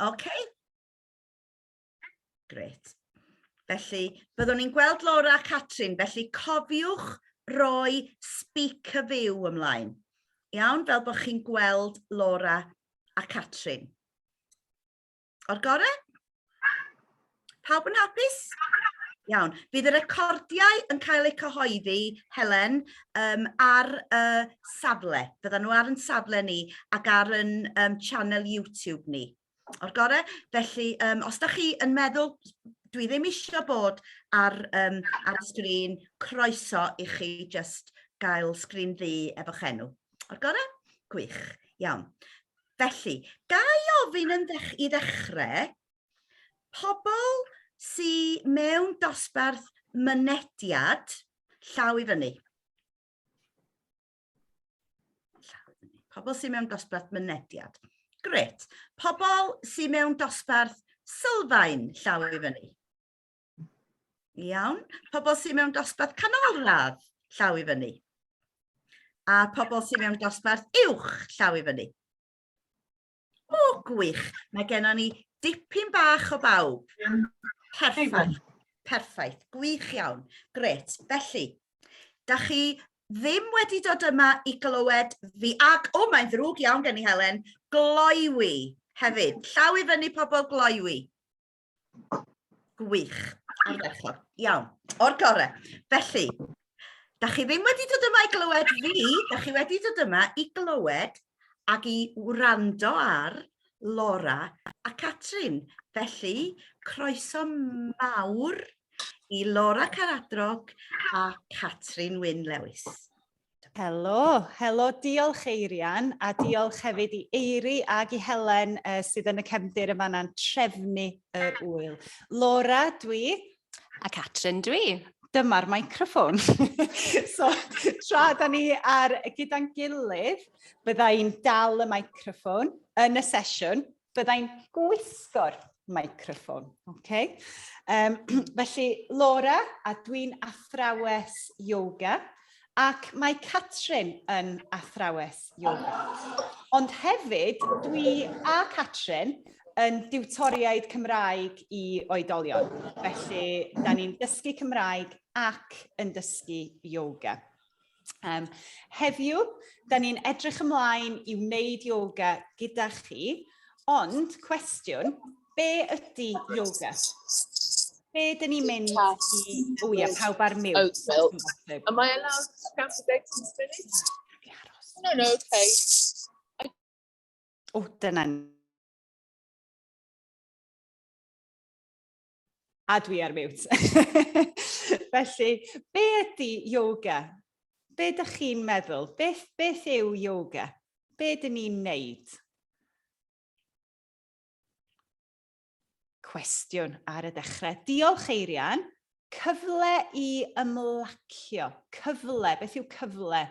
Ok? Grêt. Felly, byddwn ni'n gweld Laura a Catrin, felly cofiwch roi speak a view ymlaen. Iawn, fel bod chi'n gweld Laura a Catrin. O'r gorau? Pawb yn hapus? Iawn. Bydd y recordiau yn cael eu cyhoeddi, Helen, um, ar y safle. Byddan nhw ar yn safle ni ac ar yn um, channel YouTube ni. O'r gore? Felly, um, os da chi yn meddwl, dwi ddim eisiau bod ar, um, ar y sgrin, croeso i chi just gael sgrin ddu efo'ch enw. O'r gore? Gwych. Iawn. Felly, ga i ofyn yn ddech i ddechrau, Pobl sy mewn dosbarth mynediad, llaw i fyny. Pobl sy mewn dosbarth mynediad. Gret. Pobl sy mewn dosbarth sylfaen, llaw i fyny. Iawn. Pobl sy mewn dosbarth canolradd, llaw i fyny. A pobl sy mewn dosbarth uwch, llaw i fyny. O, gwych. Mae gennym ni dipyn bach o bawb. Perffaith. Perffaith. Gwych iawn. Gret. Felly, da chi ddim wedi dod yma i glywed fi ac, o, mae'n ddrwg iawn gen i Helen, gloiwi hefyd. Llaw i fyny pobl gloiwi. Gwych. Ardderchog. Iawn. O'r gorau. Felly, da chi ddim wedi dod yma i glywed fi, da chi wedi dod yma i glywed ac i wrando ar Laura a Catrin. Felly, croeso mawr i Laura Caradrog a Catrin Wyn Lewis. Helo, helo, diolch Eirian a diolch hefyd i Eiri ag i Helen uh, sydd yn y cefndir yma na'n trefnu yr wyl. Laura, dwi. A Catrin, dwi. Dyma'r microffon. so, tra da ni ar gyda'n gilydd, byddai'n dal y microffon yn y sesiwn Byddai'n gwisgo'r microffon. Okay. Um, felly, Laura, a dwi'n athrawes yoga, ac mae Catrin yn athrawes yoga. Ond hefyd, dwi a Catrin yn diwtoriaid Cymraeg i oedolion. Felly, da ni'n dysgu Cymraeg ac yn dysgu yoga. Yym heddiw, da ni'n edrych ymlaen i wneud yoga gyda chi, ond cwestiwn, be ydy yoga? Be dyn ni'n mynd i... O ia, pawb ar mute. Oh, well, am I allowed to count to bed in spirit? No, no, okay. I... O, dyna ni. A dwi ar miwt. Felly, be ydy yoga? Be ydych chi'n meddwl? Beth, beth yw yoga? Be dyn ni'n neud? Cwestiwn ar y dechrau. Diolch, Eirian. Cyfle i ymlacio. Cyfle. Beth yw cyfle?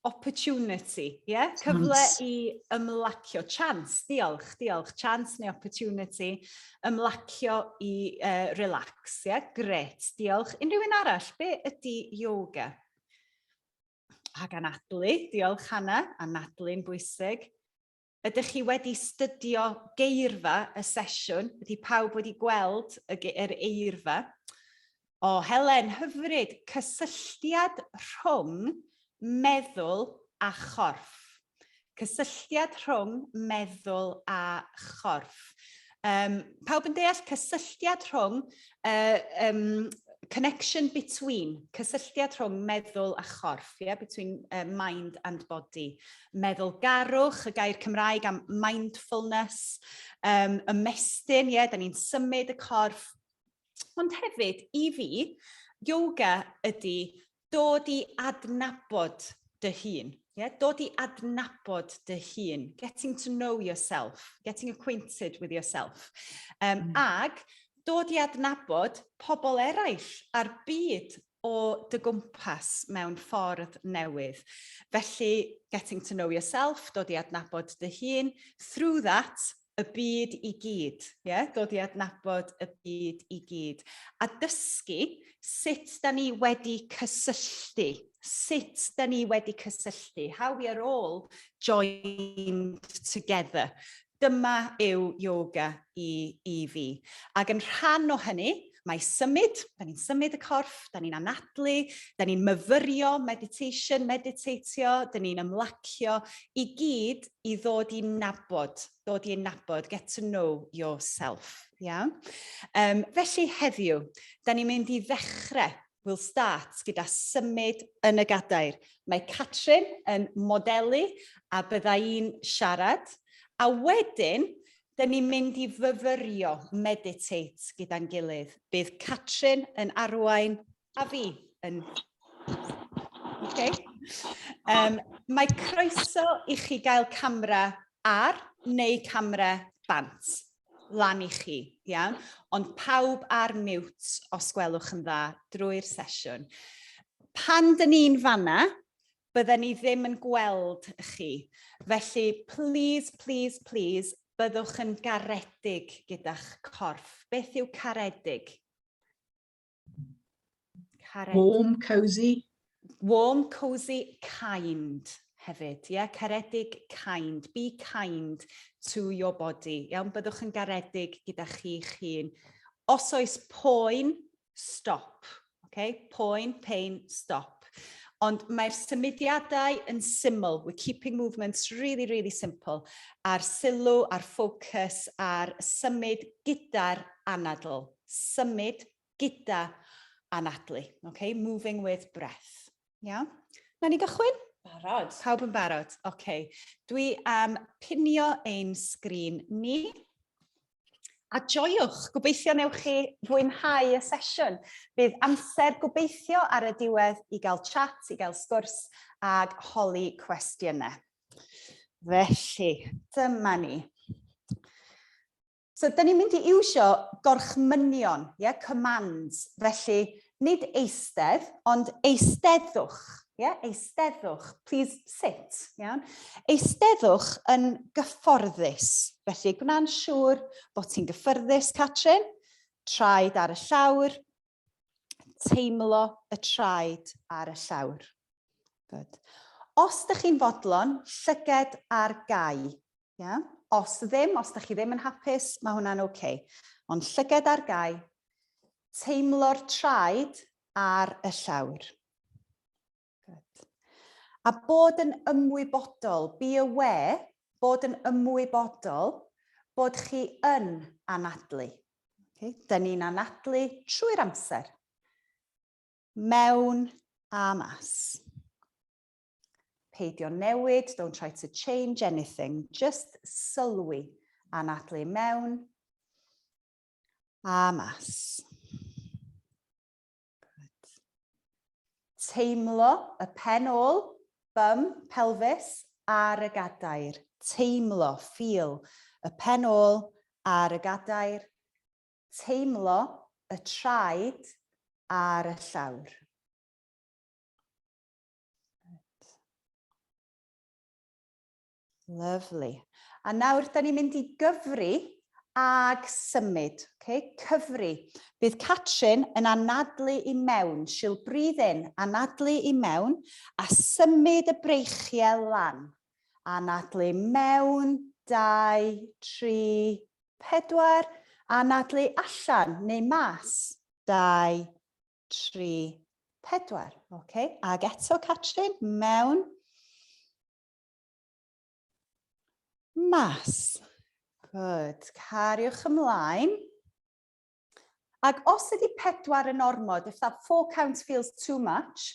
opportunity, ie? Yeah? Cyfle i ymlacio, chance, diolch, diolch, chance neu opportunity, ymlacio i uh, relax, ie? Yeah? Gret, diolch. Unrhyw un arall, be ydy yoga? Ac anadlu, diolch Hanna, anadlu'n bwysig. Ydych chi wedi stydio geirfa y sesiwn? Ydy pawb wedi gweld y yr eirfa? O, oh, Helen, hyfryd, cysylltiad rhwng meddwl a chorff. Cysylltiad rhwng meddwl a chorff. Um, pawb yn deall cysylltiad rhwng uh, um, connection between, cysylltiad rhwng meddwl a chorff, yeah, between uh, mind and body. Meddwl garwch, y gair Cymraeg am mindfulness, um, ymestyn, ie, yeah, da ni'n symud y corff. Ond hefyd, i fi, yoga ydy dod i adnabod dy hun. Yeah? Dod i adnabod dy hun, getting to know yourself, getting acquainted with yourself. Um, mm. Ag dod i adnabod pobl eraill a'r byd o dy gwmpas mewn ffordd newydd. Felly, getting to know yourself, dod i adnabod dy hun, through that, y byd i gyd, ie? Dod i adnabod y byd i gyd. A dysgu sut da ni wedi cysylltu, sut da ni wedi cysylltu, how we are all joined together. Dyma yw yoga i, i fi. Ac yn rhan o hynny, mae symud, da ni'n symud y corff, da ni'n anadlu, da ni'n myfyrio, meditation, meditatio, da ni'n ymlacio, i gyd i ddod i nabod, dod i ei nabod, get to know yourself. Iawn? Um, felly heddiw, da ni'n mynd i ddechrau We'll start gyda symud yn y gadair. Mae Catrin yn modelu a bydda i'n siarad. A wedyn, da ni'n mynd i fyfyrio, meditate gyda'n gilydd. Bydd Catrin yn arwain A fi yn... OK. Um, mae croeso i chi gael camera ar neu camera bant lan i chi, iawn? Ond pawb ar mute os gwelwch yn dda drwy'r sesiwn. Pan dyn ni'n fanna, bydden ni ddim yn gweld chi. Felly, please, please, please, byddwch yn garedig gyda'ch corff. Beth yw caredig? Karen. Warm, cosy. Warm, cosy, kind hefyd. Yeah? Caredig, kind. Be kind to your body. Iawn, byddwch yn garedig gyda chi'ch hun. Os oes poen, stop. Okay? Poen, pain, stop. Ond mae'r symudiadau yn syml. We're keeping movements really, really simple. A'r sylw, a'r ffocws, a'r symud gyda'r anadl. symud gyda anadlu, ok, moving with breath. Iawn? Nawn ni gychwyn? Barod. Pawb yn barod? Ok. Dwi am pinio ein sgrin ni. A joiwch, gobeithio newch chi fwynhau y sesiwn. Bydd amser gobeithio ar y diwedd i gael chat, i gael sgwrs ag holi cwestiynau. Felly, dyma ni. So, da ni'n mynd i iwsio gorchmynion, yeah, commands, felly nid eistedd, ond eisteddwch, yeah, eisteddwch, please sit, iawn. Eisteddwch yn gyfforddus, felly gwna'n siŵr bod ti'n gyffyrddus, Catrin, traed ar y llawr, teimlo y traed ar y llawr. Good. Os ydych chi'n fodlon, llyged ar gau. Yeah? Os ddim, os ydych chi ddim yn hapus, mae hwnna'n oce. Okay. Ond llyged ar gau, teimlo'r traed ar y llawr. Good. A bod yn ymwybodol, be aware, bod yn ymwybodol bod chi yn anadlu. Okay. Dyn ni'n anadlu trwy'r amser. Mewn a mas. Peidio newid, don't try to change anything, just sylwi anadlu mewn a mas. Teimlo y pen ôl, bum, pelfis, ar y gadair. Teimlo, feel, y pen ôl ar y gadair. Teimlo y traed ar y llawr. Lyfli. A nawr, da ni'n mynd i gyfri ag symud. Okay? Cyfri. Bydd Catrin yn anadlu i mewn. She'll breathe in, anadlu i mewn, a symud y breichiau lan. Anadlu mewn, 2, 3, 4. Anadlu allan neu mas, 2, 3, 4. Okay? Ag eto, Catrin, mewn. Mas. Good. Cariwch ymlaen. Ac os ydy pedwar yn ormod, if that four count feels too much,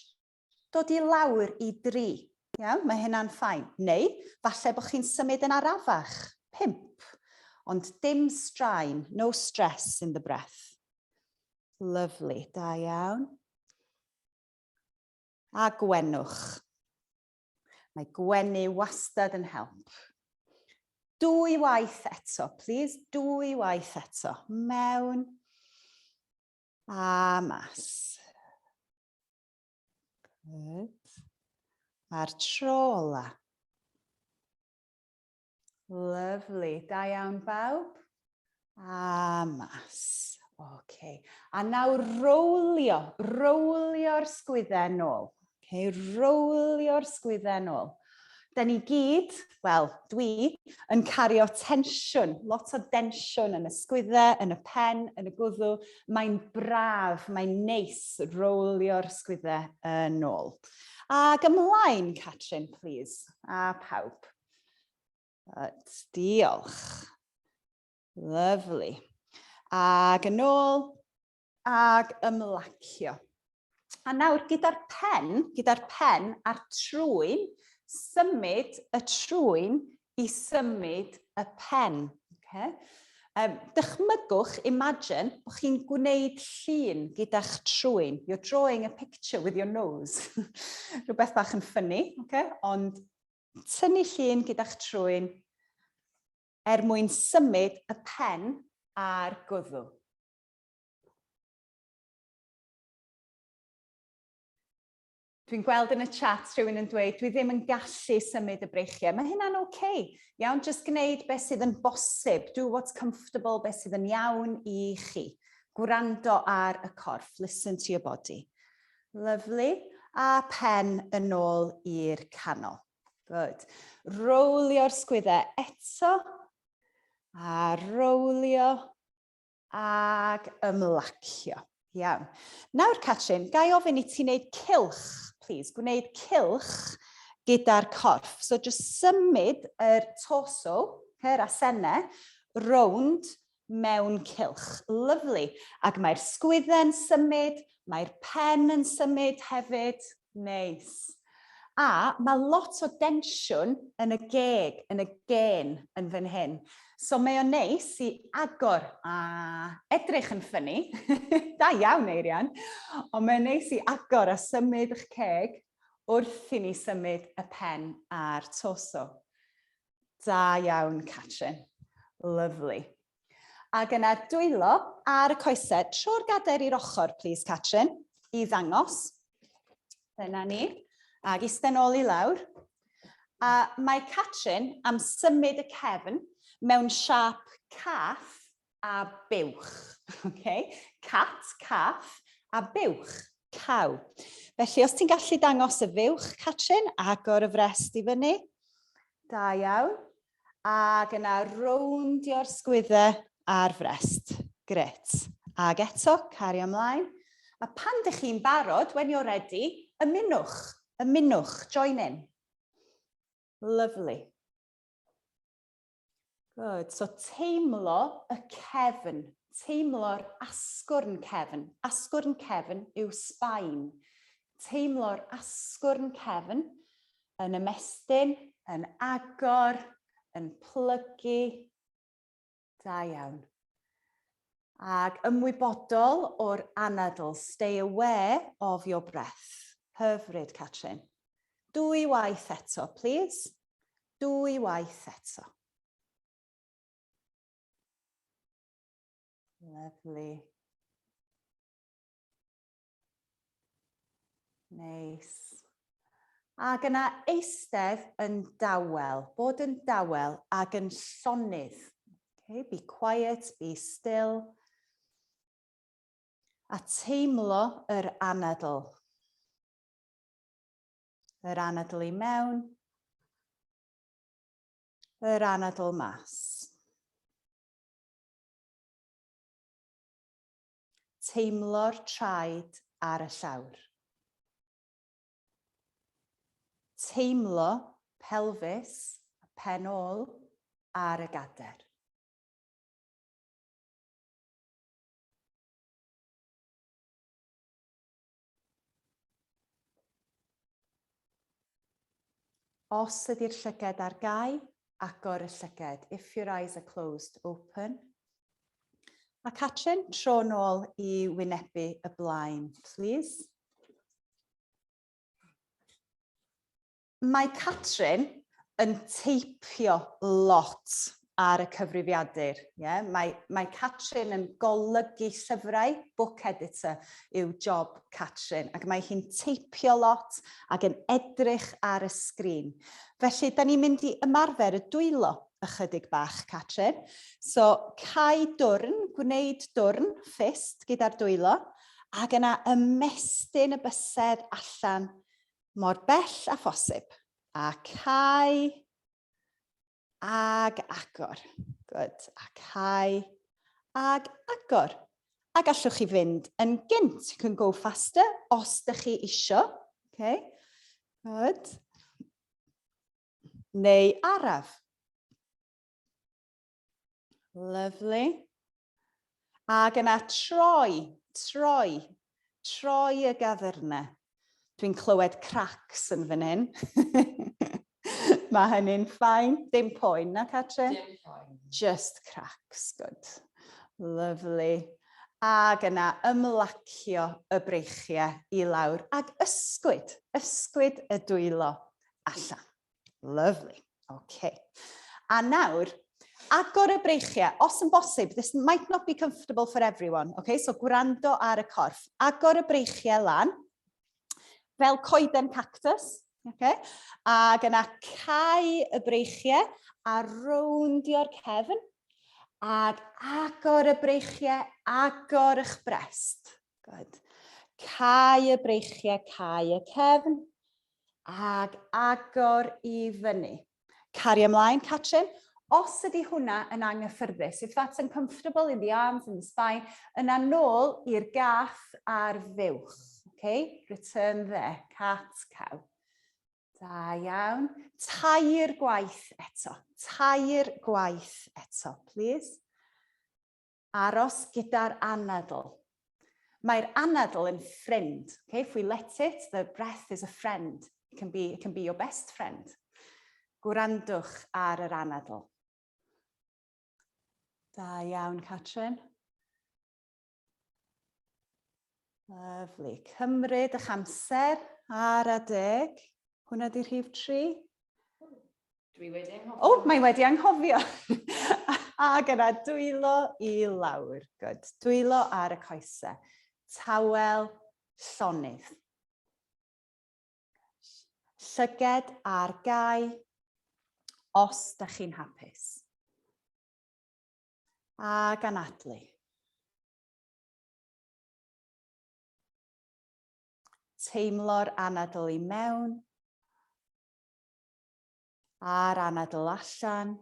dod i lawr i dri. Iawn, mae hynna'n ffain. Neu, falle bod chi'n symud yn arafach, pimp. Ond dim straen, no stress in the breath. Lovely, da iawn. A gwenwch. Mae gwenu wastad yn help. Dwy waith eto, please, dwy waith eto. Mewn a mas. Good. A'r tro ola. Lyfli, da iawn bawb. A mas. Okay. A nawr rowlio, rowlio'r sgwydden nôl. Okay, rowlio'r sgwydden nôl. Da ni gyd, wel, dwi, yn cario tensiwn, lot o densiwn yn y sgwydde, yn y pen, yn y gwddw. Mae'n braf, mae'n neis rowlio'r sgwydde yn ôl. Ac ymlaen, Catrin, please, a pawb. Right, diolch. Lovely. Ag yn ôl, ag ymlacio. A nawr, gyda'r pen, gyda'r pen a'r trwyn, symud y trwyn i symud y pen. Okay? Um, dychmygwch, imagine, bod chi'n gwneud llun gyda'ch trwyn. You're drawing a picture with your nose. Rhywbeth bach yn ffynnu, okay? ond Tynnu llun gyda'ch trwyn er mwyn symud y pen a'r gwddw. Dwi'n gweld yn y chat rhywun yn dweud, dwi ddim yn gallu symud y breichiau. Mae hynna'n oce. Okay. Iawn, jyst gwneud beth sydd yn bosib. Do what's comfortable, beth sydd yn iawn i chi. Gwrando ar y corff, listen to your body. Lyfli. A phen yn ôl i'r canol. Good. Rowlio'r sgwyddau eto. A rowlio. Ac ymlacio. Iawn. Nawr, Catrin, ga i ofyn i ti wneud cylch, please. Gwneud cylch gyda'r corff. So, just symud yr torso, her a senne, rownd mewn cylch lyfli ac mae'r sgwydde'n symud, mae'r pen yn symud hefyd. Neis. A mae lot o densiwn yn y geg, yn y gên yn fan hyn. So mae o'n neis i agor a edrych yn ffynni, da iawn Eirian, ond mae'n neis i agor a symud 'ych ceg wrth i ni symud y pen a'r torso. Da iawn, Catrin. Lyfli. Ac yna dwylo ar y coesau. Tro'r gadair i'r ochr, plis, Catrin, i ddangos. Dyna ni. Ac eistedd nôl i lawr. A mae Catrin am symud y cefn mewn siap cath a buwch. Okay? Cat, cath, a buwch, caw. Felly, os ti'n gallu dangos y fuwch, Catrin, agor y frest i fyny. Da iawn. Ac yna rowndio'r sgwyddau ar frest. Gret. Ac eto, cario ymlaen. A pan dych chi'n barod, when you're ready, ymunwch, ymunwch, join in. Lovely. Good. So teimlo y cefn, teimlo'r asgwrn cefn. Asgwrn cefn yw sbaen. Teimlo'r asgwrn cefn yn ymestyn, yn agor, yn plygu. Da iawn. Ac ymwybodol o'r anadl, stay aware of your breath. Hyfryd, Catrin. Dwy waith eto, plîs. Dwy waith eto. Lovely. Neis. Ac yna eistedd yn dawel, bod yn dawel ac yn llonydd. Okay, be quiet, be still. A teimlo yr anadl. Yr anadl i mewn. Yr anadl mas. Teimlo'r traed ar y llawr. Teimlo pelfis a phen ôl ar y gader. Os ydy'r llygad ar gau, agor y llygad. If your eyes are closed, open. A Catrin, tro nôl i wynebu y blaen, please. Mae Catrin yn teipio lot ar y cyfrifiadur, ie? Mae, mae Catrin yn golygu llyfrau, book editor yw job Catrin, ac mae hi'n teipio lot ac yn edrych ar y sgrin. Felly, da ni'n mynd i ymarfer y dwylo ychydig bach, Catrin. So, cau dwrn, gwneud dwrn, ffist, gyda'r dwylo, ac yna ymestyn y bysedd allan mor bell a phosib. A cau ag agor. Good. A cau ag agor. A gallwch chi fynd yn gynt. You can go faster os da chi isio. Okay. Good. Neu araf. Lyflu. Ac yna troi, troi, troi y gafyrna. Dwi'n clywed cracs yn fan hyn. Mae hynny'n ffain, dim poen na Catrin? Dim poen. Just cracs, good. Lyflu. Ac yna ymlacio y breichiau i lawr ac ysgwyd, ysgwyd y dwylo allan. Lovely. OK. A nawr, agor y breichiau, os yn bosib, this might not be comfortable for everyone, okay? so gwrando ar y corff. Agor y breichiau lan, fel coeden cactus, okay? ac yna cau y breichiau a rowndio'r cefn, ac agor y breichiau, agor eich brest. Good. Cau y breichiau, cau y cefn, ag agor i fyny. Cario ymlaen, Catrin. Os ydy hwnna yn anghyffyrddus, if that's uncomfortable in the arms and the spine, yna nôl i'r gath ar fuwch. Okay? Return there, cat, cow. Da iawn. Tair gwaith eto. Tair gwaith eto, please. Aros gyda'r anadl. Mae'r anadl yn ffrind. Okay, if we let it, the breath is a friend. It can be, it can be your best friend. Gwrandwch ar yr anadl. Da iawn, Catrin. Lyfli. Cymryd eich amser ar adeg. Hwna di rhif tri. Dwi wedi anghofio. O, mae wedi anghofio. a gyda dwylo i lawr. Good. Dwylo ar y coesau. Tawel llonydd. Llyged ar gau os da chi'n hapus. A ganadlu. Teimlo'r anadl i mewn a'r anadl allan.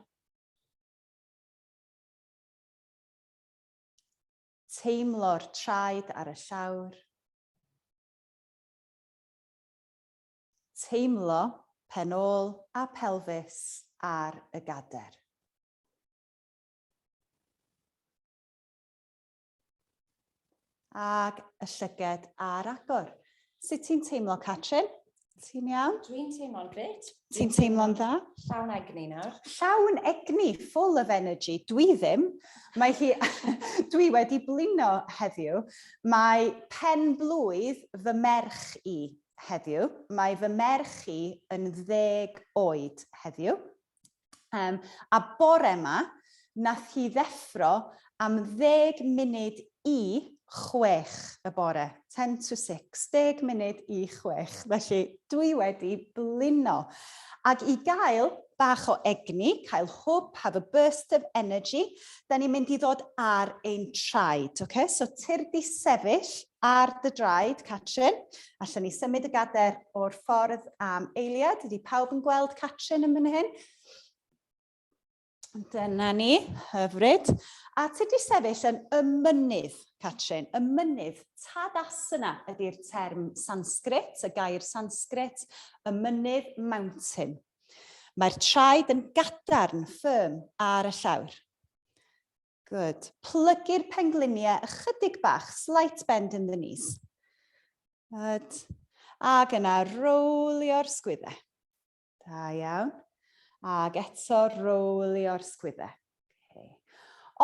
Teimlo'r traed ar y llawr. Teimlo pen ôl a pelfis ar y gader. Ag y llyged a'r agor. Sut ti'n teimlo, Catrin? Ti'n iawn? Dwi'n teimlo'n grêt. Ti'n teimlo'n dda? Llawn egni nawr. Llawn egni, full of energy. Dwi ddim. Mae hi... dwi wedi blino heddiw. Mae pen blwydd fy merch i heddiw. Mae fy merch i yn ddeg oed heddiw. Um, a bore yma, nath hi ddeffro am ddeg munud i chwech y bore, 10 to 6, deg munud i chwech, felly dwi wedi blino. Ac i gael bach o egni, cael hwb, have a burst of energy, da ni'n mynd i ddod ar ein traed, okay? so tir di sefyll, Ar dy draed, Catrin. Allwn ni symud y gader o'r ffordd am eiliad. Ydy pawb yn gweld Catrin yn mynd hyn? Dyna ni, hyfryd. A ti wedi sefyll yn y mynydd, Catrin, y mynydd. Tadasana ydy'r term Sanskrit, y gair Sanskrit, y mynydd mountain. Mae'r traed yn gadarn, firm, ar y llawr. Good. Plygu'r pengliniau ychydig bach, slight bend in the knees. Good. Ac yna rowlio'r sgwyddau. Da iawn. Ac eto rowlio'r sgwyddau. Okay.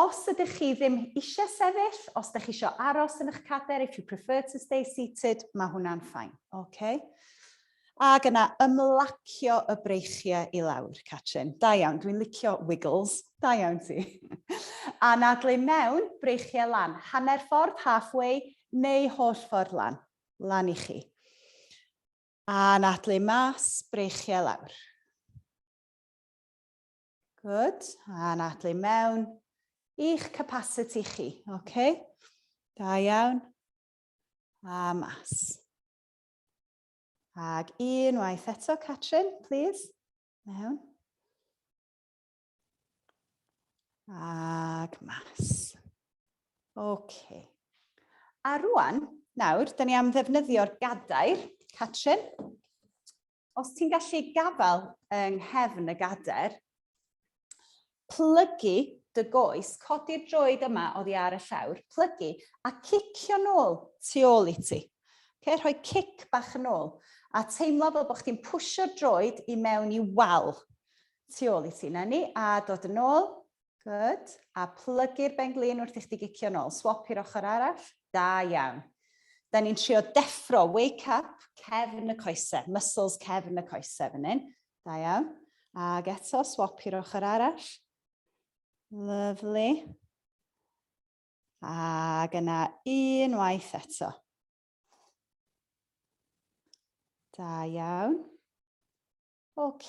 Os ydych chi ddim eisiau sefyll, os ydych chi eisiau aros yn eich cader, if you prefer to stay seated, mae hwnna'n ffain. Okay. Ac yna ymlacio y breichiau i lawr, Catrin. Da iawn, dwi'n licio wiggles. Da iawn ti. Anadlu mewn, breichiau lan. Hanner ffordd, half way, neu holl ffordd lan. Lan i chi. Anadlu mas, breichiau lawr. Good. Anadlu mewn. I'ch capacity chi. OK. Da iawn. A mas. Ag un waith eto, Catrin, please. Mewn. Ag mas. OK. A rwan, nawr, da ni am ddefnyddio'r gadair, Catrin. Os ti'n gallu gafael yng nghefn y gadair, Plygu dy goes, codi'r droed yma oddi ar y llawr, plygu, a cicio nôl tu ôl i ti. Oce, rhoi cic bach yn ôl, a teimlo fel bod chdi'n pwsio'r droed i mewn i wal tu ôl i ti. Na ni, a dod yn ôl, good, a plygu'r ben-glin wrth i chdi gicio nôl. Swop i'r ochr arall, da iawn. Da ni'n trio deffro, wake up, cefn y coesau, muscles cefn y coesau fan hyn. Da iawn. Ac eto, swap i'r ochr arall. Lyflu. Ac yna unwaith eto. Da iawn. OK.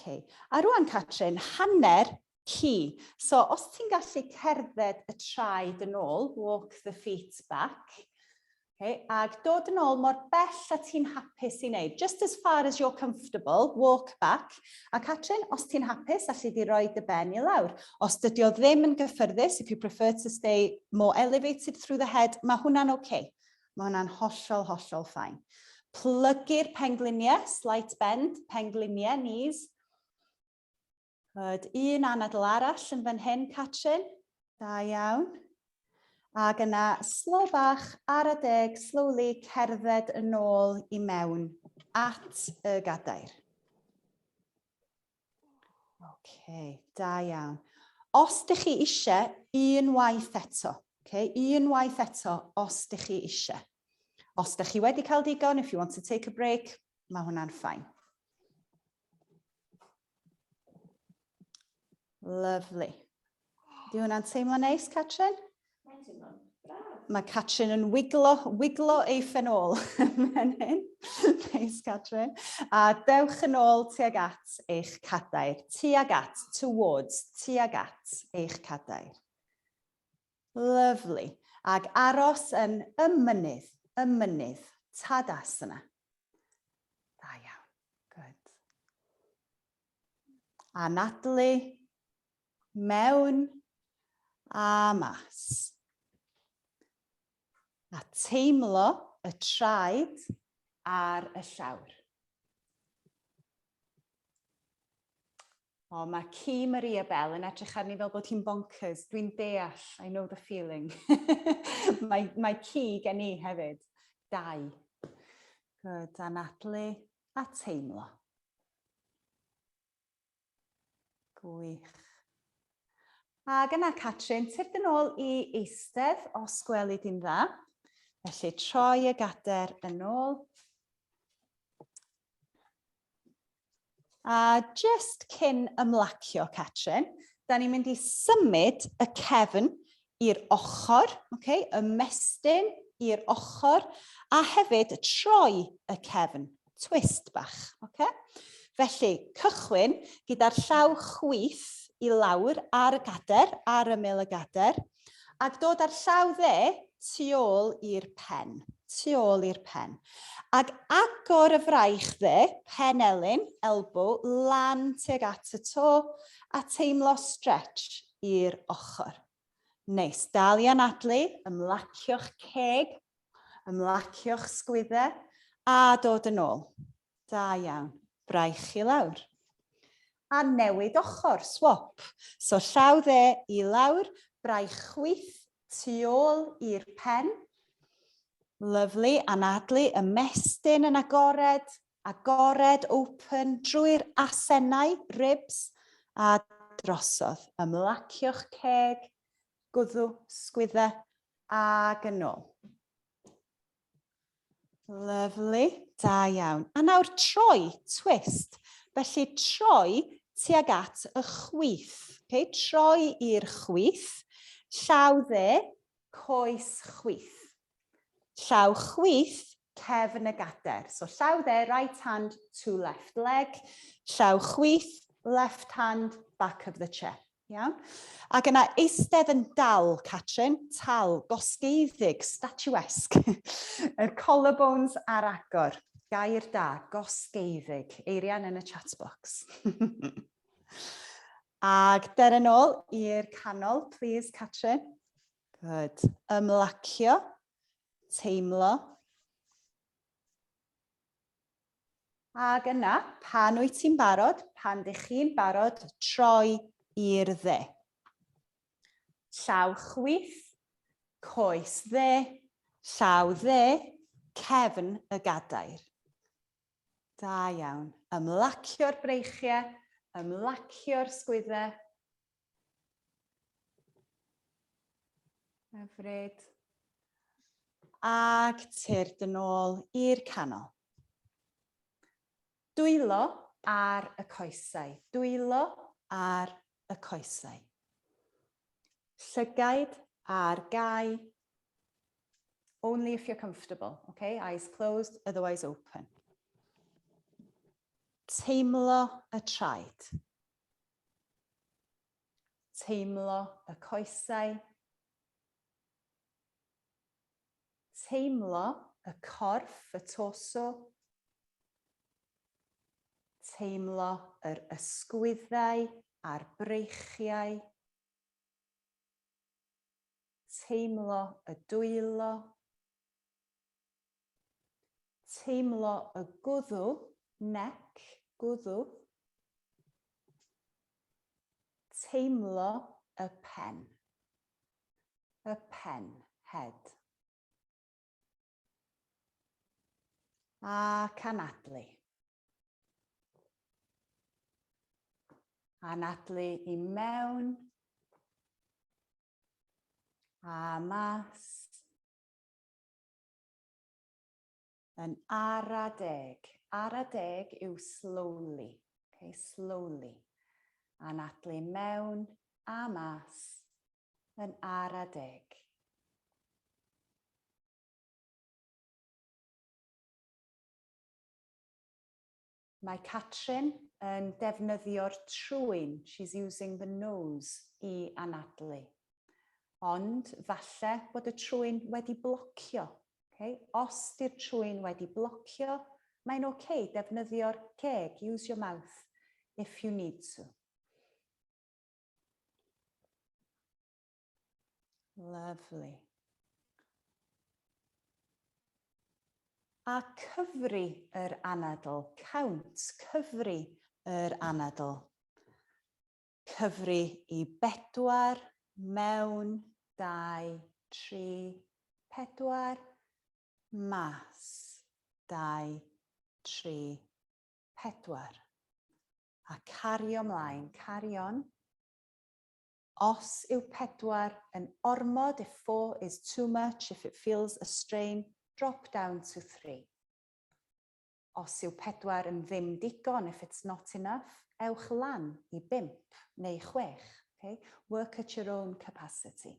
A rwan, Catrin, hanner Hi. So os ti'n gallu cerdded y traed yn ôl, walk the feet back, okay, ag dod yn ôl mor bell a ti'n hapus i wneud, just as far as you're comfortable, walk back, a Catrin, os ti'n hapus, alli di roi dy ben i lawr. Os dydy o ddim yn gyffyrddus, if you prefer to stay more elevated through the head, mae hwnna'n oce. Okay. Mae hwnna'n hollol, hollol ffain. Plygu'r pengliniau, slight bend, pengliniau, knees. Rhaid un anadl arall yn fan hyn, Catrin. Da iawn. Ac yna, slow bach ar y deg, slowly, cerdded yn ôl i mewn at y gadair. OK, da iawn. Os ydych chi eisiau, un waith eto. Okay, un waith eto, os ydych chi eisiau. Os ydych chi wedi cael digon, if you want to take a break, mae hwnna'n ffain. Lovely. Di hwnna'n teimlo neis, Catrin? Mae'n teimlo'n braf. Mae Catrin yn wiglo, wiglo ei ffenol fan hyn. Neis, Catrin. A dewch yn ôl tuag at eich cadair. Tuag at, towards, tuag at eich cadair. Lyfli. Ac aros yn y mynydd, y mynydd. Tadasana. Da iawn. Good. Anadlu. Mewn. A mas. A teimlo y traed ar y llawr. O, mae ci Maria Bell yn edrych arni fel bod hi'n bonkers. Dwi'n deall, I know the feeling. mae, mae ci gen i hefyd. Dau. Good, anadlu a teimlo. Gwych. Ac yna, Catrin, tyrd yn ôl i eistedd os gweli di'n dda. Felly, troi y gader yn ôl. A jyst cyn ymlacio, Catrin, da ni'n mynd i symud y cefn i'r ochr, okay, ymestyn i'r ochr, a hefyd troi y cefn, twist bach. Okay? Felly, cychwyn gyda'r llaw chwith i lawr ar y gader, ar ymyl y gader, ac dod â'r llaw dde tu ôl i'r pen, tu ôl i'r pen, ac agor y fraich dde, pen elyn, elbow, lan tuag at y to, a teimlo stretch i'r ochr. Neis, dal i anadlu, ymlacio'ch ceg, ymlacio'ch sgwydde, a dod yn ôl. Da iawn. Braich i lawr. A newid ochr, swop. So llaw dde i lawr, braich chwith tu ôl i'r pen. Lyflu, anadlu, ymestyn yn agored, agored, open, drwy'r asennau, ribs, a drosodd. Ymlacio'ch ceg, gwddw, sgwydda, ag yn ôl. Lyflu, da iawn. A nawr troi, twist. Felly troi tuag at y chwith. Okay? Troi i'r chwith. Llaw dde, coes chwith. Llaw chwith, cefn y gader. So llaw dde, right hand to left leg. Llaw chwith, left hand, back of the chair. Iawn. Ac yna eistedd yn dal, Catrin, tal, gosgeiddig, statuesque. Yr collarbones ar agor. Gair da, gosgeiddig. Eirian yn y chat box. Ac der yn ôl i'r canol, please, Catrin. Good. Ymlacio, teimlo. Ac yna, pan wyt ti'n barod, pan dych chi'n barod, troi i'r dde. Llaw chwith, coes dde, llaw dde, cefn y gadair. Da iawn. Ymlacio'r breichiau, ymlacio'r sgwyddau, Hyfryd. Ac tyrd yn ôl i'r canol. Dwylo ar y coesau. Dwylo ar y coesau. Llygaid ar gau. Only if you're comfortable, okay? Eyes closed, otherwise open. Teimlo y traed. Teimlo y coesau. Teimlo y corff, y torso. Teimlo yr ysgwyddau a'r breichiau. Teimlo y dwylo. Teimlo y gwddw, neck, gwddw. Teimlo y pen. Y pen, head. A canadlu. Anadlu i mewn. A mas. Yn ara deg. Ara deg yw slowly. Ok, slowly. Anadlu mewn a mas. Yn ara deg. Mae Catrin yn defnyddio'r trwyn, she's using the nose, i anadlu. Ond falle bod y trwyn wedi blocio. Okay? Os di'r trwyn wedi blocio, mae'n oce, okay, defnyddio'r ceg, use your mouth, if you need to. Lovely. A cyfri yr anadl, count, cyfri yr anadl. Cyfri i bedwar mewn dau, tri, pedwar, mas, dau, tri, pedwar. A cario mlaen, carion. Os yw pedwar yn ormod if four is too much if it feels a strain drop down to three. Os yw pedwar yn ddim digon if it's not enough ewch lan i bump neu chwech ok work at your own capacity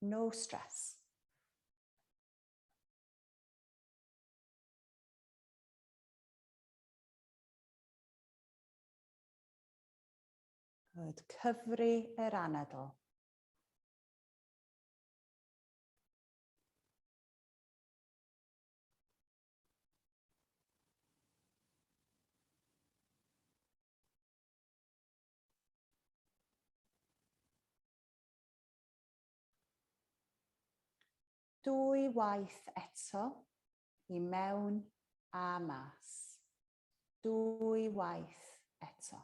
no stress. Yd cyfri yr anadl. Dwy waith eto, i mewn a mas. Dwy waith eto.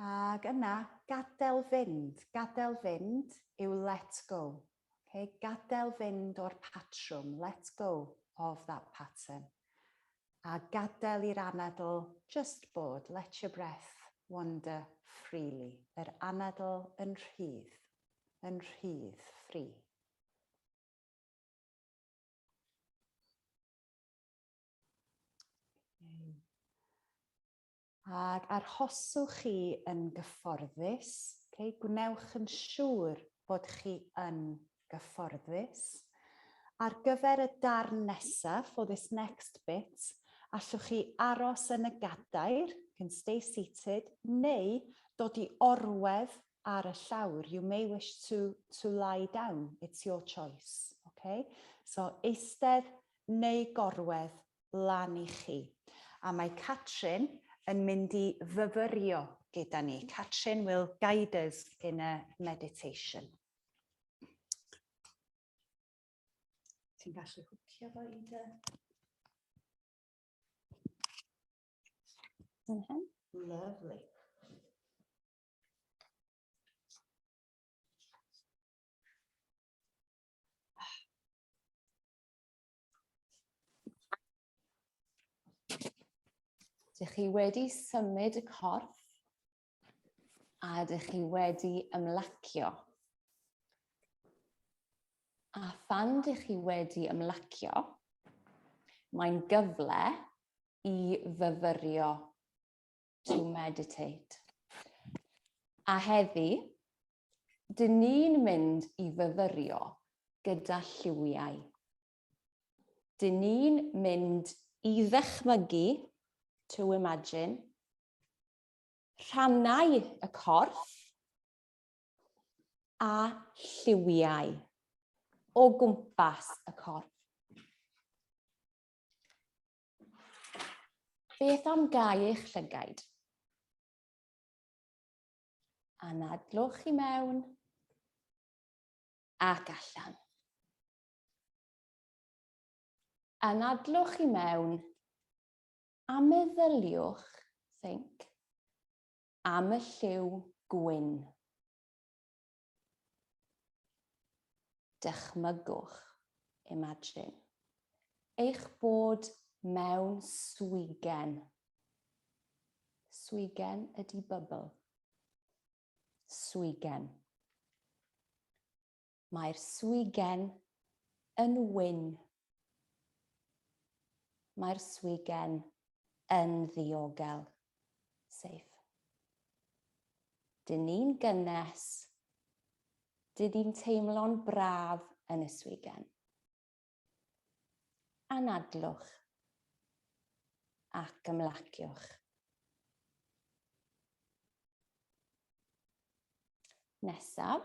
Ac yna, gadael fynd. Gadael fynd yw let go. Ok? Gadael fynd o'r patrwm, let go of that pattern. A gadael i'r anadl just bod, let your breath wander freely. Yr anadl yn rhydd, yn rhydd, free. Ac arhoswch chi yn gyfforddus, ok, gwnewch yn siŵr bod chi yn gyfforddus. Ar gyfer y darn nesaf, for this next bit, allwch chi aros yn y gadair, you can stay seated, neu dod i orwedd ar y llawr, you may wish to to lie down, it's your choice, ok. So, eistedd neu gorwedd lan i chi. A mae Catrin yn mynd i fyfyrio gyda ni. Catrin will guide us in a meditation. Ti'n gallu hwcio fo i dy... Lovely. Dych chi wedi symud y corff a dych chi wedi ymlacio. A phan dych chi wedi ymlacio, mae'n gyfle i fyfyrio to meditate. A heddi, dyn ni'n mynd i fyfyrio gyda lliwiau. Dyn ni'n mynd i ddechmygu, to imagine, rhannau y corff a lliwiau o gwmpas y corff. Beth am gau eich llygaid? Anadlwch i mewn ac allan. Anadlwch i mewn a meddyliwch, think, am y lliw gwyn. Dychmygwch, imagine, eich bod mewn swigen. Swigen ydy bubble. Swigen. Mae'r swigen yn wyn Mae'r swigen yn ddiogel. Safe. Dyn ni'n gynnes. Dyn ni'n teimlo'n braf yn y swigen. Anadlwch ac ymlaciwch. Nesaf,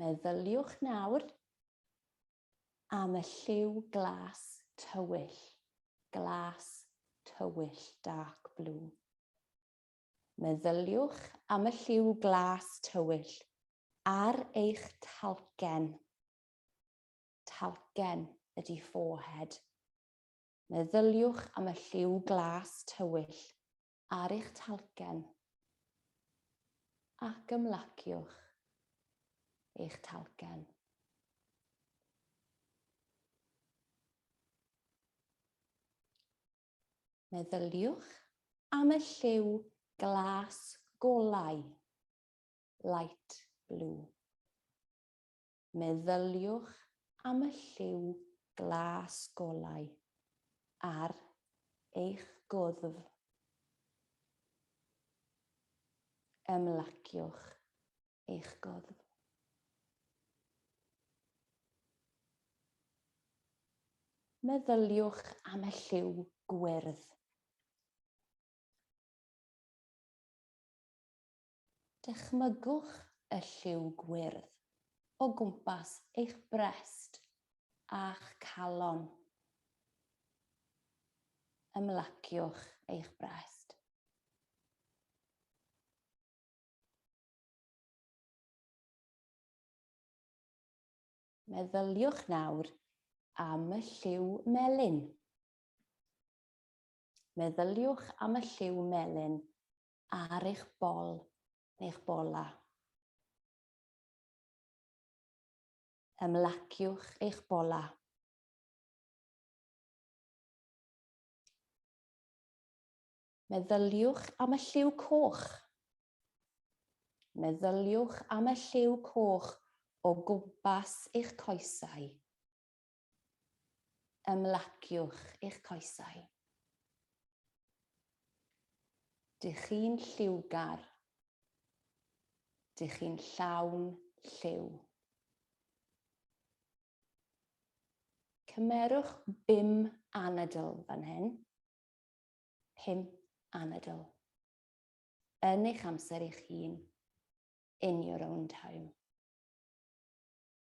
Meddyliwch nawr am y lliw glas tywyll, glas tywyll, dark blue. Meddyliwch am y lliw glas tywyll ar eich talgen. Talgen ydy forehead. Meddyliwch am y lliw glas tywyll ar eich talcen ac ymlaciwch eich talcen. Meddyliwch am y lliw glas golau, light blue. meddyliwch am y lliw glas golau ar eich gwddf. Ymlaciwch eich gwddf. Meddyliwch am y lliw gwyrdd. Dychmygwch y lliw gwyrdd o gwmpas eich brest a'ch calon. Ymlaciwch eich brest. Meddyliwch nawr am y lliw melyn. Meddyliwch am y lliw melyn ar eich bol neu'ch bola. Ymlaciwch eich bola. Meddyliwch am y lliw coch. Meddyliwch am y lliw coch o gwmpas eich coesau. Ymlaciwch eich coesau. Dych chi'n lliwgar. Dych chi'n llawn lliw. Cymerwch bum anadl fan hyn. Pum anadl. Yn eich amser eich hun. In your own time.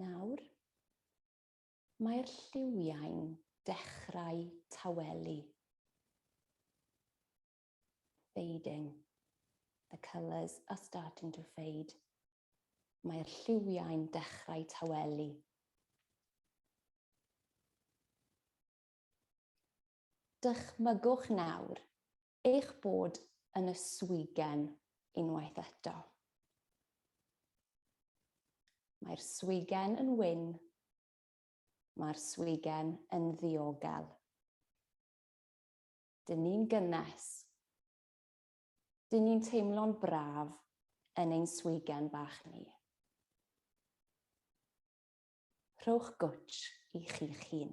Nawr, mae'r lliwiau'n dechrau tawelu. Fading. The colours are starting to fade. Mae'r lliwiau'n dechrau tawelu. Dychmygwch nawr eich bod yn y swigen unwaith eto. Mae'r swigen yn wyn, mae'r swigen yn ddiogel. Dyn ni'n gynnes. Dyn ni'n teimlo'n braf yn ein swigen bach ni. Rhowch gwtch i chi'ch hun.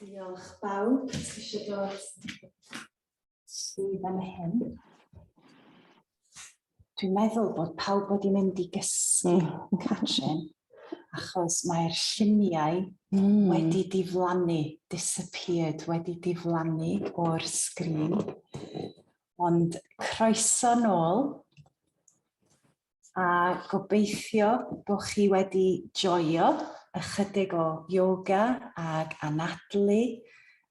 Diolch bawb, ti eisiau dod i fan hyn. Dwi'n meddwl bod pawb wedi mynd i gysgu yn Catrin, achos mae'r lluniau mm. wedi diflannu, disappeared, wedi diflannu o'r sgrin. Ond croeso nôl a gobeithio bod chi wedi joio ychydig o yoga ag anadlu,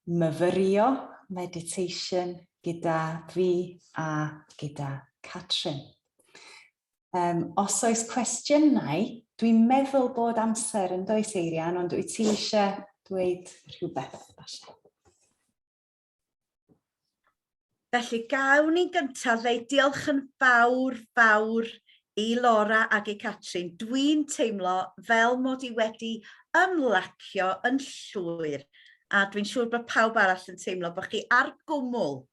myfyrio, meditation gyda fi a gyda Catrin. Um, os oes cwestiynau, dwi'n meddwl bod amser yn does Eirian, ond wyt ti eisiau dweud rhywbeth? Basha? Felly, gawn ni'n gyntaf ddweud diolch yn fawr, fawr i Laura ac i Catrin. Dwi'n teimlo fel mod i wedi ymlacio yn llwyr a dwi'n siŵr bod pawb arall yn teimlo bod chi ar gwmwl,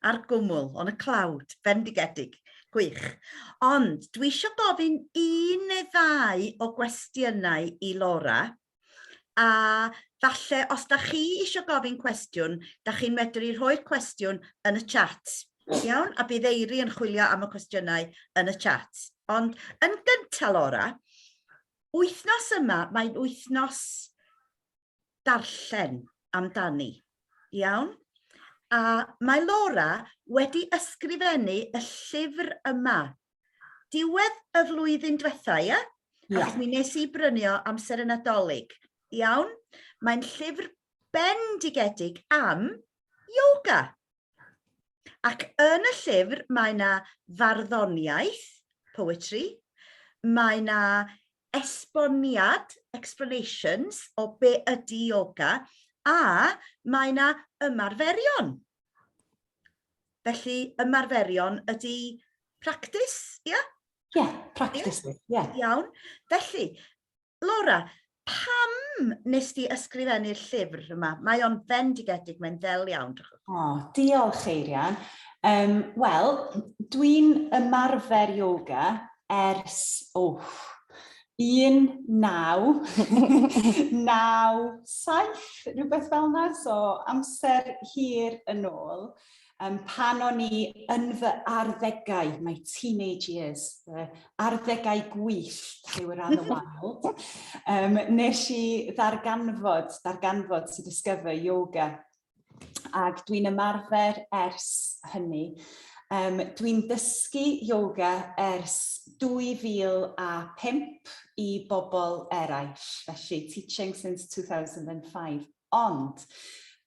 ar gwmwl, on y cloud, fendigedig. Gwych. Ond dwi eisiau gofyn un neu ddau o gwestiynau i Laura. a falle os da chi eisiau gofyn cwestiwn, da chi'n medru rhoi'r cwestiwn yn y chat. Iawn? A bydd Eiri yn chwilio am y cwestiynau yn y chat. Ond yn gyntaf, Laura, wythnos yma, mae'n wythnos darllen amdani. Iawn? A mae Laura wedi ysgrifennu y llyfr yma diwedd y flwyddyn diwetha, ie? Yeah? Ie. Yeah. mi nes i brynu o amser y Nadolig. Iawn? Mae'n llyfr bendigedig am yoga. Ac yn y llyfr mae yna farddoniaeth, poetry, mae yna esboniad, explanations, o be ydy yoga, a mae yna ymarferion. Felly, ymarferion ydy practis, ie? Yeah? Ie, yeah, practis, ie. Yeah. Iawn. Felly, Laura, pam nes di ysgrifennu'r llyfr yma? Mae o'n fendigedig, mae'n ddel iawn. O, oh, diolch, Eirian. Um, Wel, dwi'n ymarfer yoga ers, oh, un, naw, naw, saith, rhywbeth fel yna, so amser hir yn ôl, um, pan o'n i yn fy arddegau, my teenage years, fy arddegau gwyllt yw yr anna wild, um, nes i ddarganfod, darganfod to discover yoga ac dwi'n ymarfer ers hynny. Um, dwi'n dysgu yoga ers 2005 i bobl eraill, felly teaching since 2005. Ond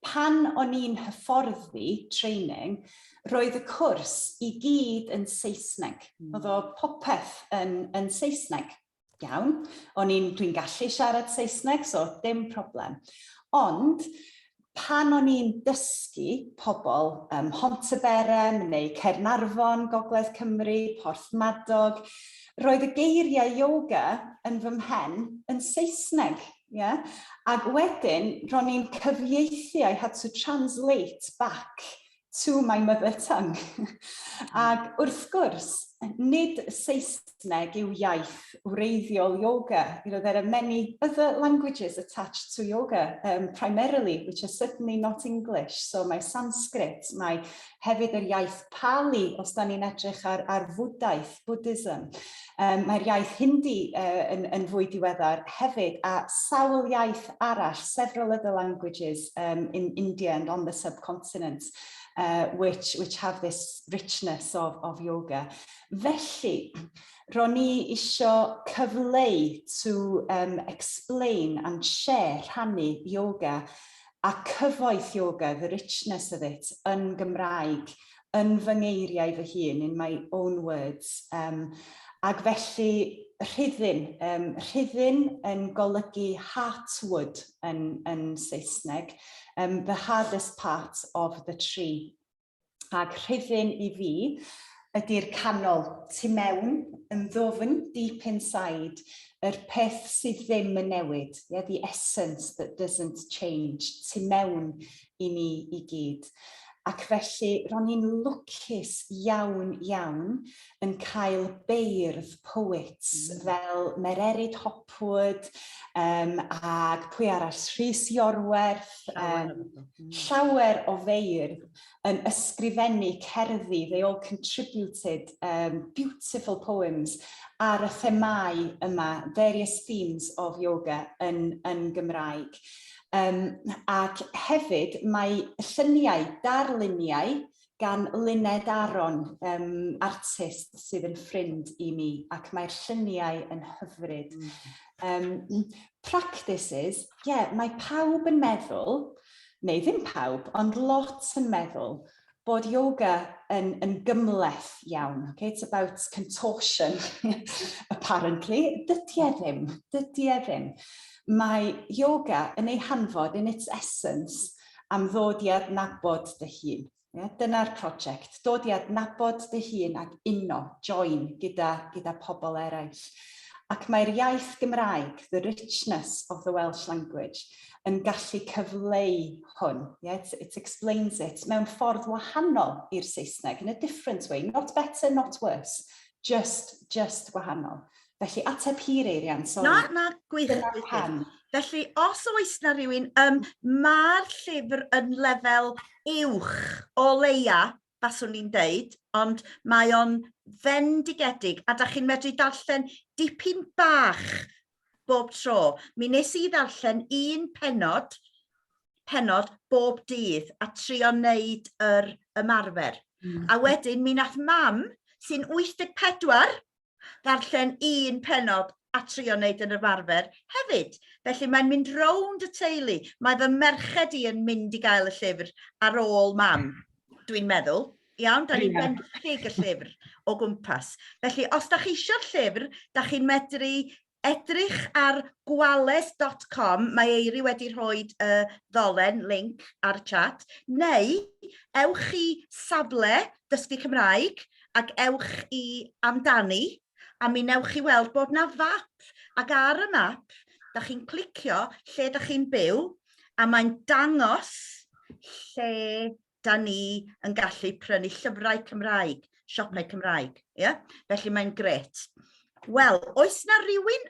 pan o'n i'n hyfforddi training, roedd y cwrs i gyd yn Saesneg. Mm. Oedd o popeth yn, yn Saesneg. Iawn, o'n i'n, dwi'n gallu siarad Saesneg, so dim problem. Ond pan o'n i'n dysgu pobl ym Mhontyberem neu Caernarfon, Gogledd Cymru, Porthmadog, roedd y geiriau yoga yn fy mhen yn Saesneg. Ie? Ac wedyn, ro'n i'n cyfieithu, I had to translate back to my mother tongue. Ac wrth gwrs, nid Saesneg yw iaith wreiddiol yoga. You know, there are many other languages attached to yoga, um, primarily, which are certainly not English. So mae Sanskrit, mae hefyd yr iaith Pali, os da ni'n edrych ar, ar fwdaeth, Buddhism. Um, Mae'r iaith Hindi uh, yn, yn fwy diweddar hefyd, a sawl iaith arall, several other languages um, in India and on the subcontinent, uh, which, which have this richness of, of yoga. Felly, ro'n ni eisiau cyfleu to um, explain and share, rhannu yoga, a cyfoeth yoga, the richness of it, yn Gymraeg yn fy ngeiriau fy hun, in my own words. Um, ac felly rhyddyn, um, rhyddyn yn golygu heartwood yn, yn Saesneg, um, the hardest part of the tree. Ac rhyddyn i fi ydy'r canol, tu mewn, yn ddofn, deep inside, yr peth sydd ddim yn newid, yeah, the essence that doesn't change, tu mewn i ni i gyd. Ac felly, ro'n i'n lwcus iawn, iawn yn cael beirdd poet mm. fel Mererid Hopwood um, ac pwy arall, Rhys Iorwerth, um, llawer o feirdd yn ysgrifennu cerddi, they all contributed um, beautiful poems ar y themau yma, various themes of yoga yn, yn Gymraeg. Um, ac hefyd mae lluniau, darluniau gan Luned Aron, um, artist sydd yn ffrind i mi, ac mae'r lluniau yn hyfryd. Um, practices, ie, yeah, mae pawb yn meddwl, neu ddim pawb, ond lot yn meddwl, bod yoga yn, yn gymleth iawn. Okay? It's about contortion, apparently. Dydy e ddim, dydy e ddim. Mae yoga yn ei hanfod, in its essence, am ddod i adnabod dy hun. Yeah? Dyna'r prosiect, dod i adnabod dy hun ac uno, join, gyda, gyda pobl eraill. Ac mae'r iaith Gymraeg, the richness of the Welsh language, yn gallu cyfleu hwn, yeah, it, it explains it, mewn ffordd wahanol i'r Saesneg, in a different way, not better, not worse, just, just wahanol. Felly, ateb hir eirian, sori. Na, na, gwych. Dyna pan. Felly, os oes na rhywun, um, mae'r llyfr yn lefel uwch o leia baswn i'n deud ond mae o'n fendigedig a da chi'n medru darllen dipyn bach bob tro. Mi nes i ddarllen un penod penod bob dydd a trio wneud yr ymarfer. Mm. A wedyn mi nath mam sy'n 84 ddarllen un penod a trio wneud yn ymarfer hefyd. Felly mae'n mynd rownd y teulu. Mae fy merched i yn mynd i gael y llyfr ar ôl mam, dwi'n meddwl. Iawn, da ni'n benthyg y llyfr o gwmpas. Felly, os da chi eisiau'r llyfr, da chi'n medru Edrych ar gwales dot com, mae Eiri wedi rhoi y ddolen, link, ar chat, neu ewch i safle Dysgu Cymraeg ac ewch i Amdani a mi wnewch chi weld bod 'na fap ac ar y map dach chi'n clicio lle dach chi'n byw a mae'n dangos lle 'da ni yn gallu prynu llyfrau Cymraeg siopau Cymraeg ia? Felly mae'n grêt. Wel oes 'na rywun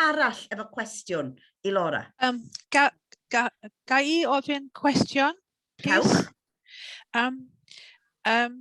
arall efo cwestiwn i Laura? Um, ga, ga, ga i ofyn cwestiwn? Cewch. Um, um,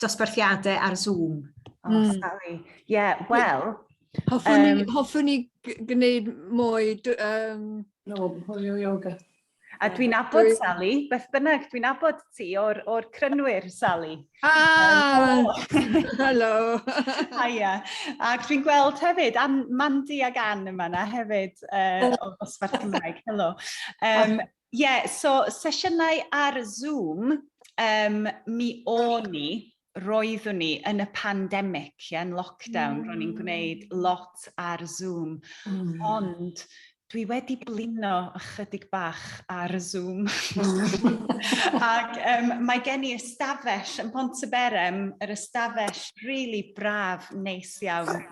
dosbarthiadau ar Zoom. Oh, mm. sorry. Ie, yeah, wel... Hoffwn um, hoffwn ni gwneud mwy... Um... No, hwyl yoga. A dwi'n abod Dwi... Sally, beth bynnag, dwi'n abod ti o'r, or crynwyr, Sally. Ah! Um, Helo! Haia. Ac dwi'n gweld hefyd, am Mandy ag Anne yma na hefyd, uh, o Gosfar Cymraeg. Helo. Um, Ie, so sesiynau ar Zoom, um, mi o'n ni, roeddwn ni yn y pandemic, ie, yn lockdown, mm. ro'n i'n gwneud lot ar Zoom, mm. ond dwi wedi blino ychydig bach ar y Zoom. Ac um, mae gen i ystafell yn Pont y Berem, yr ystafell rili really braf, neis iawn.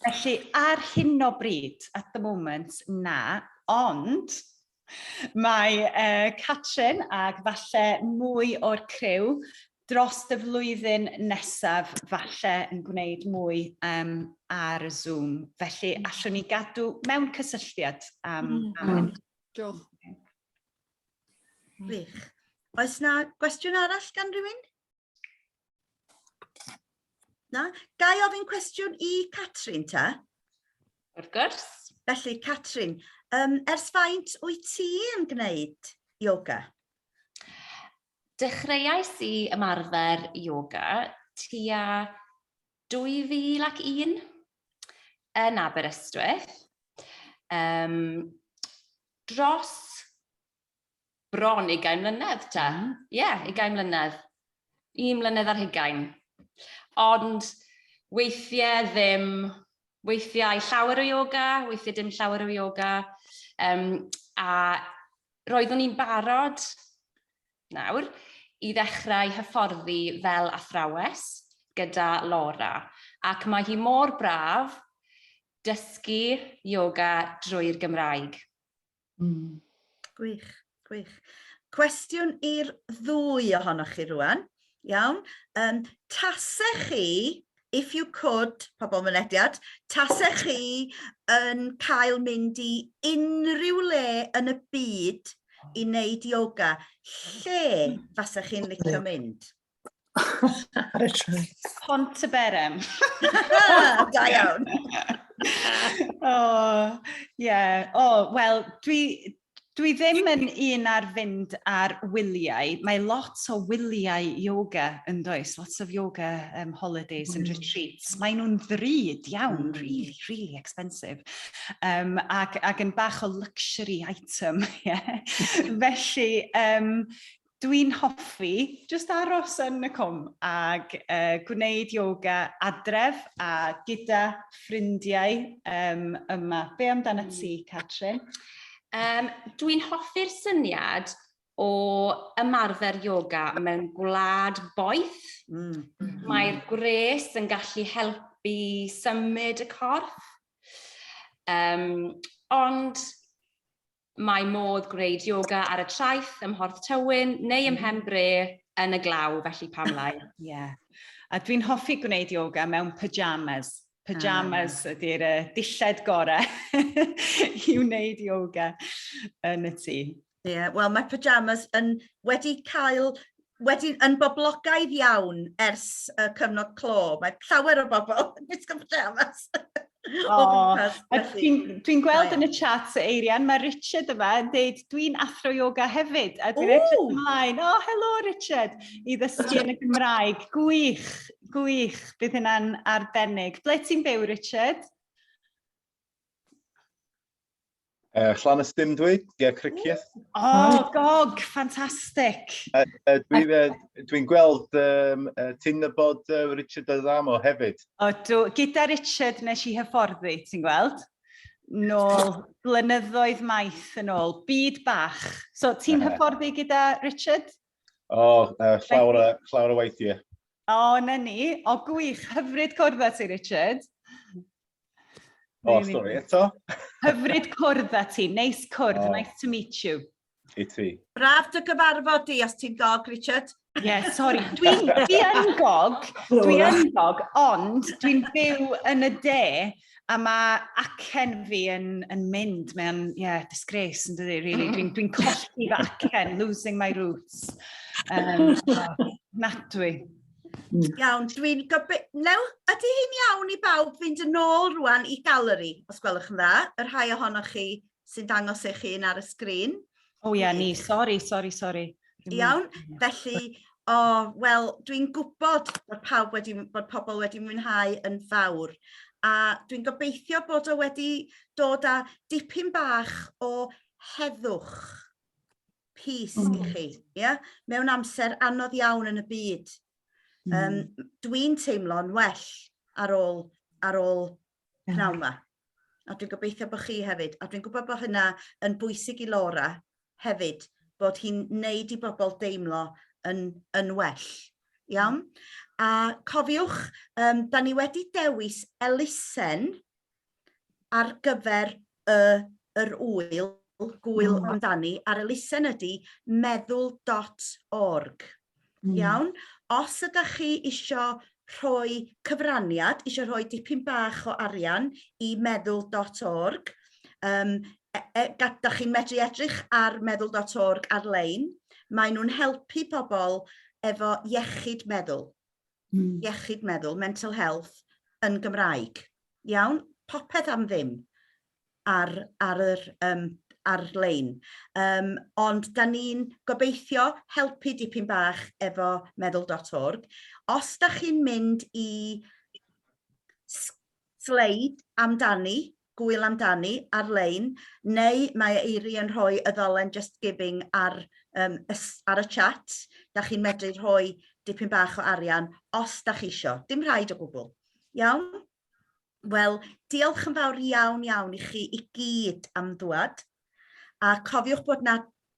Felly, ar hyn o bryd, at the moment, na, Ond mae uh, Catrin ac falle mwy o'r criw dros y flwyddyn nesaf falle yn gwneud mwy um, ar y Zoom. Felly mm. allwn ni gadw mewn cysylltiad am... Um, mm. am... Diolch. Gwych. Oes na gwestiwn arall gan rhywun? Na? Gai ofyn cwestiwn i Catrin ta? Wrth gwrs. Felly, Catrin, um, ers faint wyt ti yn gwneud yoga? Dechreuais i ymarfer yoga tua 2001 yn Aberystwyth. Um, dros bron ugain mlynedd ta. Mm. Ie, yeah, ugain mlynedd. Un mlynedd ar hugain. Ond weithiau ddim, weithiau llawer o yoga, weithiau dim llawer o yoga. Um, a roeddwn i'n barod nawr i ddechrau hyfforddi fel athrawes gyda Laura. Ac mae hi mor braf dysgu yoga drwy'r Gymraeg. Mm. Gwych, gwych. Cwestiwn i'r ddwy ohonoch chi rwan. Iawn. Um, tasech chi, if you could, pobl mynediad, tasech chi yn cael mynd i unrhyw le yn y byd i wneud yoga, lle fasech chi'n licio mynd? Ar y train. Pont y Berem. da iawn. o, ie. Yeah. O, oh, wel, dwi, dwi ddim yn un ar fynd ar wyliau. Mae lot o wyliau yoga yn does, lots of yoga um, holidays mm. and retreats. Mae nhw'n ddrud iawn, mm. really, really expensive. Um, ac, ac yn bach o luxury item, ie. Yeah. Felly, um, Dwi'n hoffi jyst aros yn y cwm ag yy gwneud yoga adref a gyda ffrindiau yym yma. Be' amdanat ti, Catrin? Um, dwi'n hoffi'r syniad o ymarfer yoga mewn gwlad boeth. Mm. Mae'r gwres yn gallu helpu symud y corff. Um, ond Mae modd gwneud yoga ar y traeth, ym Mhorth Tywyn, neu ym Mhen Bre, yn y glaw, felly pam lai? Ie. A dwi'n hoffi gwneud yoga mewn pyjamas. Pyjamas ah. ydy'r uh, dilled gorau i wneud yoga yn y tŷ. Ie, yeah, wel mae pyjamas yn wedi cael wedi yn boblogaidd iawn ers y cyfnod clo. Mae llawer o bobl yn gwisgo pyjamas. Dwi'n gweld yn y chat, Eirian, mae Richard yma yn dweud, dwi'n athro yoga hefyd, a dwi'n edrych ymlaen, o, oh, helo Richard, i ddysgu yn y Gymraeg. Gwych, gwych, bydd hynna'n arbennig. Ble ti'n byw, Richard? Uh, Llanystum dwi, Ger Cricieth. O, oh, gog, ffantastig! Uh, uh, Dwi'n uh, dwi gweld um, uh, ti'n nybod uh, Richard Adamo hefyd. O, dw, gyda Richard nes i hyfforddi, ti'n gweld? Nôl, blynyddoedd maith yn ôl, byd bach. So, ti'n hyfforddi gyda Richard? O, uh, llawer, a, llawer o weithiau. O, oh, na ni. O, oh, gwych. Hyfryd cwrdd â ti, Richard. O, oh, stori eto. Hyfryd cwrdd â ti. Neis cwrdd. Oh. Nice to meet you. I ti. Braf dy gyfarfod di os ti'n gog, Richard. Ie, yeah, sori. Dwi'n dwi yn gog, dwi'n gog, ond dwi'n byw yn y de, A mae acen fi yn, yn mynd, mae o'n, ie, yeah, disgrace yn dydi, really. Dwi'n dwi colli fy acen, losing my roots. Um, oh, natwy. Hmm. Iawn, dwi'n gobeithio... Lew, ydy hi'n iawn i bawb fynd yn ôl rwan i galeri, os gwelwch yn dda, yr rhai ohonoch chi sy'n dangos eich hun ar y sgrin. O ia, ni, sori, sori, sori. Iawn, felly, o, oh, wel, dwi'n gwybod bod, pawb wedi, bod pobl wedi mwynhau yn fawr, a dwi'n gobeithio bod o wedi dod â dipyn bach o heddwch pys mm. i chi, yeah? mewn amser anodd iawn yn y byd. Mm. Um, dwi'n teimlo'n well ar ôl, ar ôl pnawn 'ma. A dwi'n gobeithio bod chi hefyd. A dwi'n gwybod bod hynna yn bwysig i Laura hefyd bod hi'n neud i bobl deimlo yn yn well. Iawn? A cofiwch yym 'dan ni wedi dewis elusen ar gyfer y yr ŵyl, gŵyl mm. amdani a'r elusen ydy meddwl.org. Mm. Iawn? Os ydych chi eisiau rhoi cyfraniad, eisiau rhoi dipyn bach o arian i meddwl.org, um, e, e, da chi'n medru edrych ar meddwl.org ar-lein, maen nhw'n helpu pobl efo iechyd meddwl. hmm. iechyd meddwl, mental health, yn Gymraeg. Iawn? Popeth am ddim ar, ar yr um, ar-lein. Um, ond da ni'n gobeithio helpu dipyn bach efo meddwl.org. Os da chi'n mynd i sleid amdani, Gŵyl amdani ar-lein neu mae Eiri yn rhoi y ddolen Just Giving ar yym ar y chat 'da chi'n medru rhoi dipyn bach o arian os 'da chi isio. Dim rhaid o gwbwl. Iawn? Wel diolch yn fawr iawn iawn i chi i gyd am ddwad a cofiwch bod 'na